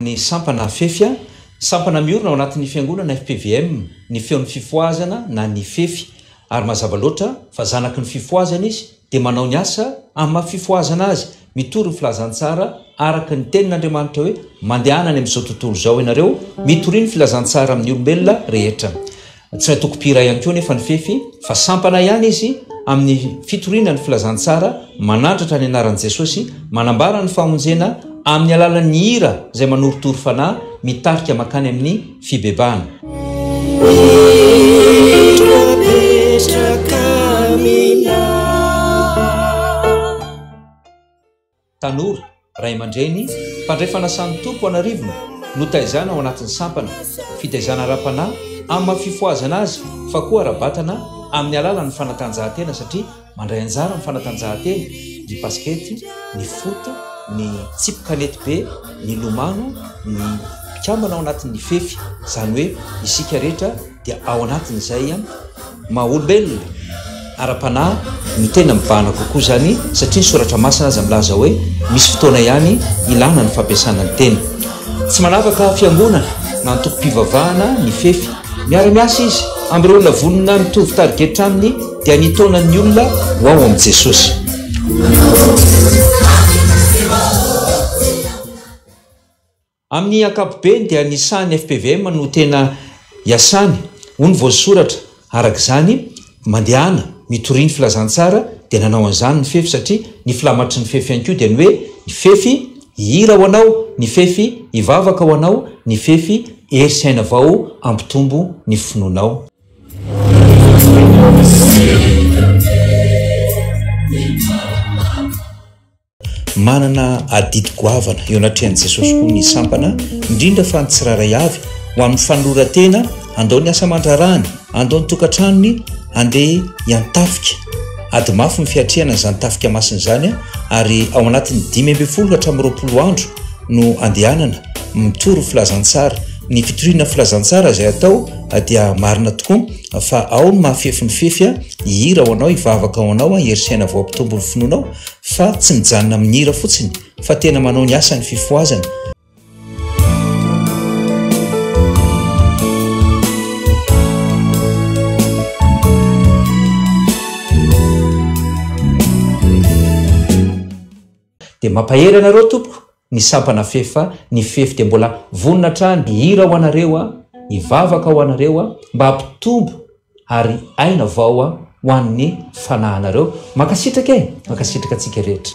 ny sampana fefy a Sampana miorina ao anatin'ny fiangonana FPVM ny feon'ny fifohazana na ny fefy ary mazava loatra fa zanaky ny fifohazana izy dia manao ny asa amin'ny maha fifohazana azy mitory ny filazantsara araka ny tenin'Andriamanitra hoe mandehana any amin'izao tontolo izao ianareo mitoria ny filazantsara amin'ny olombelona rehetra Tsy maintsy toko-mpihira ihany koa anefa ny fefy fa sampana ihany izy amin'ny fitoriana ny filazantsara, manandratra ny anaran'i Jesosy, manambara ny famonjena amin'ny alalan'ny hira izay manorotoro fanahy mitarika mankany amin'ny fibebahana. Tanora, ray aman-dreny, mpandray fanasan'ny Tompo an'arivony, notaizaina ao anatin'ny sampana, fitaizana ara-panahy amin'ny maha fifohazana azy fa koa ara-batana amin'ny alalan'ny fanatanjahantena satria mandray anjara amin'ny fanatanjahantena, ny basikety, ny foot, ny tsipy kanetibe, ny lomano, ny mpikambana ao anatin'ny fefy, izany hoe isika rehetra. dia ao anatin'izay ihany maha olombelona ara-panahy no tena mibahana kokoa izany satria ny soratra masina aza milaza hoe misy fotoana ihany ilana ny fampiasana ny teny. Tsy manavaka fiangonana na antokom-pivavahana ny fefy. Miara-miasa izy amin'ireo olona vonona mitovy tarigetra aminy dia ny taonan'ny olona ho ao amin'i Jesosy. Amin'ny ankapobeny dia ny sahan'ny FPVM no tena iasany, hoy ny voasoratra. Araka izany, mandehana, mitoria ny filazantsara, dia nanao an'izany ny fefy satria ny filamatry ny fefy ihany koa dia ny hoe, ny fefy hihira ho anao, ny fefy hivavaka ho anao, ny fefy hery sy aina vao hampitombo ny finoanao. Manana adidy goavana eo anatrehan'i Jesosy koa ny sampana, indrindra fa ny tsirairay avy, ho amin'ny fanoloran-tena, handao ny asa aman-draharahany, handao ny tokantranony, handeha hiantafika. Ady mafy ny fiatrehana izany tafika masina izany, ary ao anatin'ny dimy ambin'ny folo hatramin'ny roapolo andro no andehanana mitory filazantsara. Ny fitoriana filazantsara izay atao dia marina tokoa fa ao ny mahafefin'ny fefy, hihira ho anao, hivavaka ho anao, hery saina voampitombo ny finoanao, Fa tsy mijanona amin'ny hira fotsiny fa tena manao ny asany fifohazana. Dia mampahery anareo tompoko. Ny sampana fefy fa ny fefy dia mbola vonona hatrany hihira ho anareo a, hivavaka ho anareo a, mba hampitombo ary aina vao a ho an'ny fanahinareo. Mankasitraka e! Mankasitraka antsika rehetra.